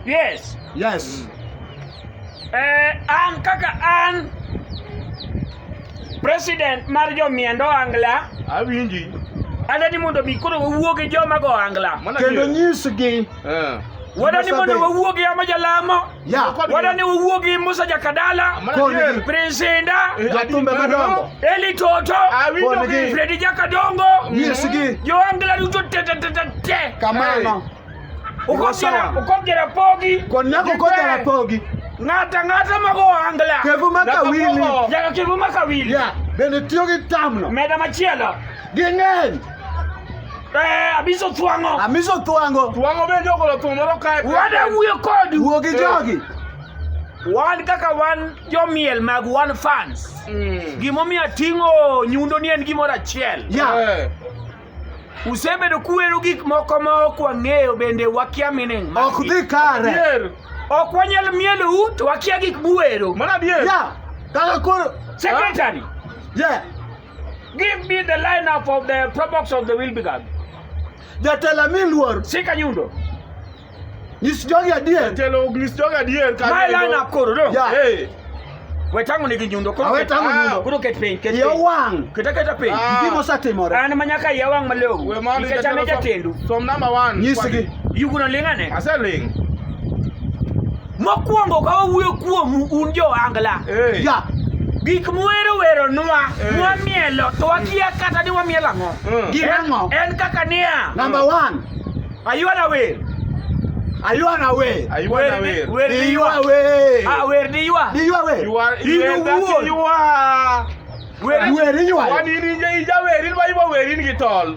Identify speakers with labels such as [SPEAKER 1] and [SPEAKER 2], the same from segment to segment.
[SPEAKER 1] Yes. Yes.
[SPEAKER 2] Eh,
[SPEAKER 1] an kaka an president mar jomiend ohangla Awinji.
[SPEAKER 3] adani mondo
[SPEAKER 1] mi koro wawuo gi joma go ohangla Mana kendo adier. nyisgi
[SPEAKER 2] Eh. wadani
[SPEAKER 1] mondo wawuo gi joma jalamo Yeah. Wala ni
[SPEAKER 2] uwuogi
[SPEAKER 1] Musa Jakadala, Prince Inda, Jatumbe Madongo,
[SPEAKER 2] Eli Toto,
[SPEAKER 1] Freddy Jakadongo, Yesigi,
[SPEAKER 2] Joangela Ruto tete
[SPEAKER 1] tete tete. Kamano.
[SPEAKER 2] Ukojera
[SPEAKER 1] ukojera pogi. Konyako kojera
[SPEAKER 2] pogi. Ngata ngata
[SPEAKER 1] mago angla. Kevu makawili.
[SPEAKER 2] Yaka kevu makawili.
[SPEAKER 1] Yeah. Bende tiyo
[SPEAKER 2] gi tamno. Meda machielo. Ging'eny. Eh,
[SPEAKER 1] abiso twang'o. Amiso twango.
[SPEAKER 2] Twang'o bende ogolo thum
[SPEAKER 3] moro kae. Wada wuyo kodi.
[SPEAKER 1] Wuo gi jogi.
[SPEAKER 2] Wan
[SPEAKER 1] kaka wan jomiel mag wan fans. Mm. Gimomiyo ating'o nyundo ni en gimoro achiel. Ya.
[SPEAKER 2] Eh.
[SPEAKER 1] Usebedo kuwero gik moko ma ok wang'eyo bende wakia meaning mag Ok gik. dhi kare.
[SPEAKER 2] Adier. Ok wanyal
[SPEAKER 1] mielou to wakia gik muwero. Mano adier. Ya.
[SPEAKER 3] Kaka
[SPEAKER 2] koro. Secretary.
[SPEAKER 1] Ya.
[SPEAKER 2] Give
[SPEAKER 1] me the lineup of the probox of the Wilbrigad. Jatela
[SPEAKER 2] mi luor. Sika nyundo. Nyis jogi adier. Jatelo nyis jogi
[SPEAKER 3] adier. My lineup koro
[SPEAKER 1] do. Yeah. Hey. Wetangu nigi nyundo koro. Wetangu ah. nyundo. Koro ket
[SPEAKER 2] piny, ket piny.
[SPEAKER 1] Yawang. Keta
[SPEAKER 2] keta piny. Ah. Gimo
[SPEAKER 1] satimore.
[SPEAKER 2] An manyaka yawang
[SPEAKER 1] malou. We mali jatelo. Ikechame
[SPEAKER 3] jatendu.
[SPEAKER 1] Som number 1.
[SPEAKER 3] Nyisgi. Yuguno
[SPEAKER 2] lingane.
[SPEAKER 1] Aseling.
[SPEAKER 3] Mokwongo
[SPEAKER 1] ka wawuoyo kuomu un jo angla. Hey. Yeah.
[SPEAKER 2] Gik mwero
[SPEAKER 1] wero nwa, hey. mwamielo, to wakia kata ni wamielo ang'o. Mm. Gin ang'o? En
[SPEAKER 2] kaka niya.
[SPEAKER 1] Number one.
[SPEAKER 2] Ayuana wer.
[SPEAKER 1] Ayuana
[SPEAKER 2] wer.
[SPEAKER 3] Ayuana
[SPEAKER 2] wer. Wer di yua. Ah, wer di yua.
[SPEAKER 1] Di
[SPEAKER 2] yua wer. Yua. Yua. Yua. Wer di yua. Wani ni ija
[SPEAKER 3] wer, ilwa ibo wer in gitol.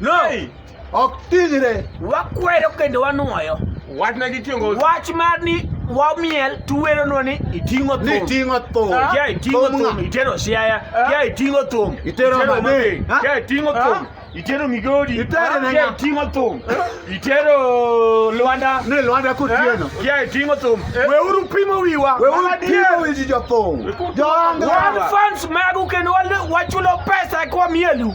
[SPEAKER 2] No. Hey.
[SPEAKER 1] Ok
[SPEAKER 2] ting're. Wakwero kendo
[SPEAKER 1] wanwoyo. Wach na gitingo. Wach mar ni wamiel tuwero no ni itingo thum. Ni tingo thum. Ah. Kia
[SPEAKER 2] itingo thum.
[SPEAKER 1] Itero siaya. Ah. Kia itingo thum. Itero mane.
[SPEAKER 2] Ah. Kia itingo thum.
[SPEAKER 1] Itero migodi. Itero nanga. Kia itingo
[SPEAKER 2] thum.
[SPEAKER 1] Itero Luanda. Ne Luanda kutieno.
[SPEAKER 2] Kia itingo thum.
[SPEAKER 1] Eh. We uru pimo wiwa. We uru pimo wiji
[SPEAKER 2] jo thum. Jonga. One fans magu
[SPEAKER 1] kendo wachulo pesa kwa mielu.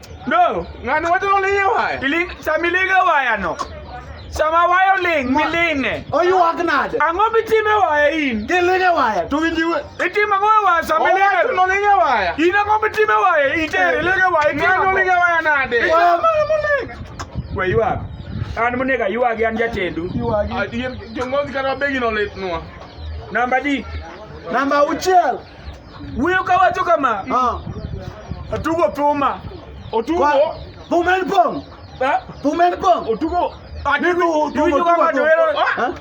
[SPEAKER 2] No,
[SPEAKER 1] ngani wacho ni olinge
[SPEAKER 3] waya. Iling samilinge
[SPEAKER 1] waya no. Sama waya oling milinge. Oyuak nade?
[SPEAKER 2] Ang'o mitime waya
[SPEAKER 1] in? Kilinge waya to
[SPEAKER 2] winji we. Itimo ang'o e waya
[SPEAKER 1] sama ilinge? Owacho ni olinge waya. In
[SPEAKER 3] ang'o mitime waya?
[SPEAKER 1] Itere ilinge waya. Itimo Ngani ang'o? olinge waya nade?
[SPEAKER 3] Itimo ang'o molinge?
[SPEAKER 1] We ywak. An monego aywagi an jatendu.
[SPEAKER 3] Yuagi.
[SPEAKER 1] Ah,
[SPEAKER 3] Jong'ozi kata begi no
[SPEAKER 1] litnwa. Namba di.
[SPEAKER 2] Namba auchiel. Wuyo ka
[SPEAKER 1] wacho kama. Ah. Atugo thuma. Otugo.
[SPEAKER 3] Thuma en
[SPEAKER 2] pong. Eh? Thuma en pong. Otugo. Atugo
[SPEAKER 3] thuma.
[SPEAKER 1] Ah?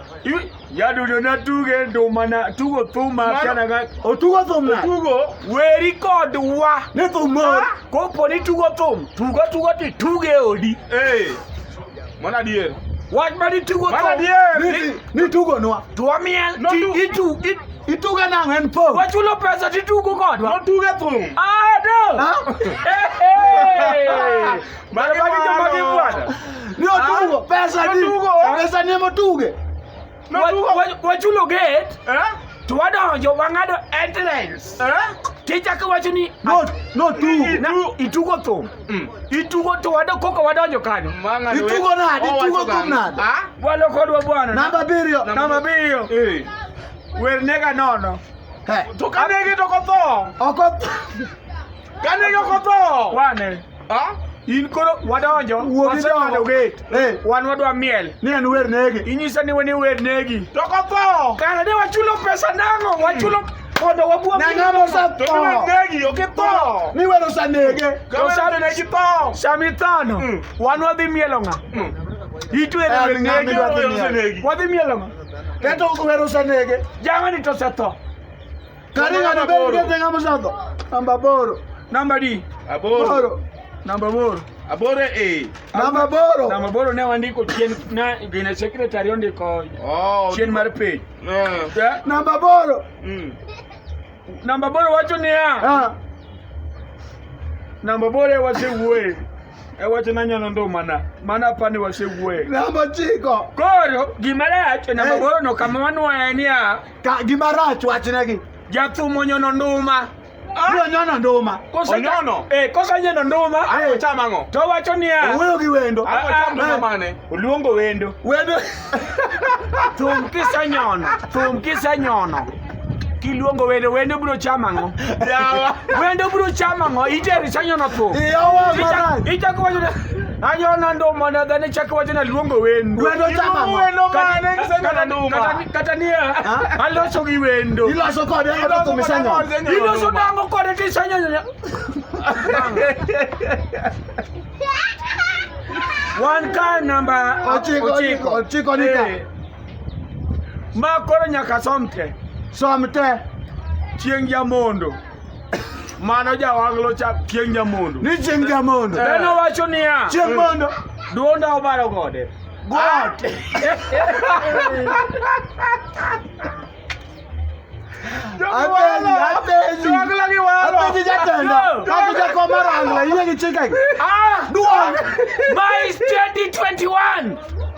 [SPEAKER 1] Yadudo na tuge nduma na tugo thuma kana ga. Otugo thuma. Otugo
[SPEAKER 2] weri
[SPEAKER 3] kod
[SPEAKER 1] wa. Ne thuma. Ah?
[SPEAKER 2] Kopo ni tugo
[SPEAKER 1] thum. Tugo tugo ti tuge odi. Eh.
[SPEAKER 3] Mwana dier. Wach ma nitugo
[SPEAKER 1] to. Mwana dier.
[SPEAKER 3] Nitugo nwa.
[SPEAKER 2] To wamiel. Itu ituga nang en po. Wachulo pesa titugo
[SPEAKER 1] kodwa. Notuge thum. Ah
[SPEAKER 3] do.
[SPEAKER 1] Mara bagi jomagi bwana. Ni otugo
[SPEAKER 2] pesa ni. Pesa ni motuge.
[SPEAKER 1] wachulo gate eh? to wadonjo wang'ado entrance eh? tichako wacho ni
[SPEAKER 2] itugo thum mm.
[SPEAKER 1] itugo to wado koko wadonjo kanyo itugo nade
[SPEAKER 2] itugo thum nade ah? walo kodwa
[SPEAKER 1] bwana namba abiriyo namba
[SPEAKER 2] abiriyo eh.
[SPEAKER 1] wernega nono to
[SPEAKER 3] kanege to kotho kane yoko tho wane
[SPEAKER 1] Ah? in koro wadonjo wasewadho gate eh. wan wadwa miel ni en wer negi
[SPEAKER 2] inyisa ni weni wer
[SPEAKER 1] negi to kopo
[SPEAKER 3] kara de wachulo
[SPEAKER 1] pesa nang'o hmm. wachulo mondo wabua nang'amo satho
[SPEAKER 2] negi okitho
[SPEAKER 3] ni wer osanege
[SPEAKER 2] osanegi tho
[SPEAKER 3] sami thano hmm.
[SPEAKER 1] wan wadhi mielo ng'a hmm. itwere wer negi wadhi mielo ng'a keto wer
[SPEAKER 2] osanege jamani to setho
[SPEAKER 1] Karinga
[SPEAKER 2] na beri kete kama shando. Namba boro. Namba di.
[SPEAKER 1] Aboro. Boro.
[SPEAKER 3] Namba boro.
[SPEAKER 1] Aboro e.
[SPEAKER 3] Namba
[SPEAKER 2] boro. Namba boro ne wandiko
[SPEAKER 1] chien na gina secretary ondiko. Oh. Chien mar page. Yeah. Namba
[SPEAKER 2] boro. Mm.
[SPEAKER 1] Namba boro wacho niya. Ah. Namba boro wacho wuoye. E wacho na nyono ndo mana. Mana pani wacho wuoye. Namba chiko.
[SPEAKER 2] Koro gima
[SPEAKER 1] rach namba eh. boro no kama wanwaye niya. Ka gima rach
[SPEAKER 2] wachnegi. Jathum onyono
[SPEAKER 1] nduma. Ah. Onyono
[SPEAKER 2] nduma. Onyono. Eh,
[SPEAKER 3] kosa onyono
[SPEAKER 1] nduma. Ayo chama ang'o? To
[SPEAKER 3] wacho niya. Owuoyo
[SPEAKER 1] gi wendo. Ayo ah,
[SPEAKER 2] chama nduma ah. mane?
[SPEAKER 3] Oluongo wendo.
[SPEAKER 1] Wendo. Thum kisenyono. Thum kisenyono. kiluongo wendo wendo bro chama ngo
[SPEAKER 3] wendo bro
[SPEAKER 1] chama ngo ite risanyo no tu
[SPEAKER 2] ichako wacho
[SPEAKER 1] Anyo na ndo mana gane chako wacho na luongo wendo. Wendo chama. Wendo
[SPEAKER 2] mane kisema
[SPEAKER 3] na nduma. Kata niya.
[SPEAKER 1] Aloso gi wendo. Iloso kode oto
[SPEAKER 2] kumisanyo. Iloso dango
[SPEAKER 1] kode tisanyo nyonya. One car number ochiko ochiko ochiko
[SPEAKER 2] nika. Eh.
[SPEAKER 1] Ma koro nyaka somte. Somte.
[SPEAKER 2] Chieng'
[SPEAKER 1] jamondo. Mano jawanglo cha chieng' nyamondo. Ni chieng' nyamondo.
[SPEAKER 2] Eh. Beno wacho niya.
[SPEAKER 1] Chieng' mondo.
[SPEAKER 2] Duonda obaro
[SPEAKER 1] gode. God.
[SPEAKER 2] Apenji, apenji. Jwangla gi walo. Apenji jatenda. Kaka jakom marangla, iye gi chike. Ah, duong. My
[SPEAKER 1] 2021.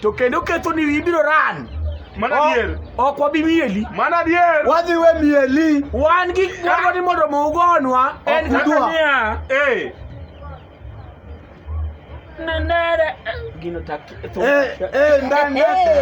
[SPEAKER 1] to kendo ketho ni ibiro ran Mano adier.
[SPEAKER 3] Ok wabi mieli.
[SPEAKER 1] Mano adier. Wadhi
[SPEAKER 3] we mieli.
[SPEAKER 2] Wan gi moro
[SPEAKER 1] ni mondo mugonwa en kaka niya. Eh. Nenere. Gino tak. Eh, eh, ndani.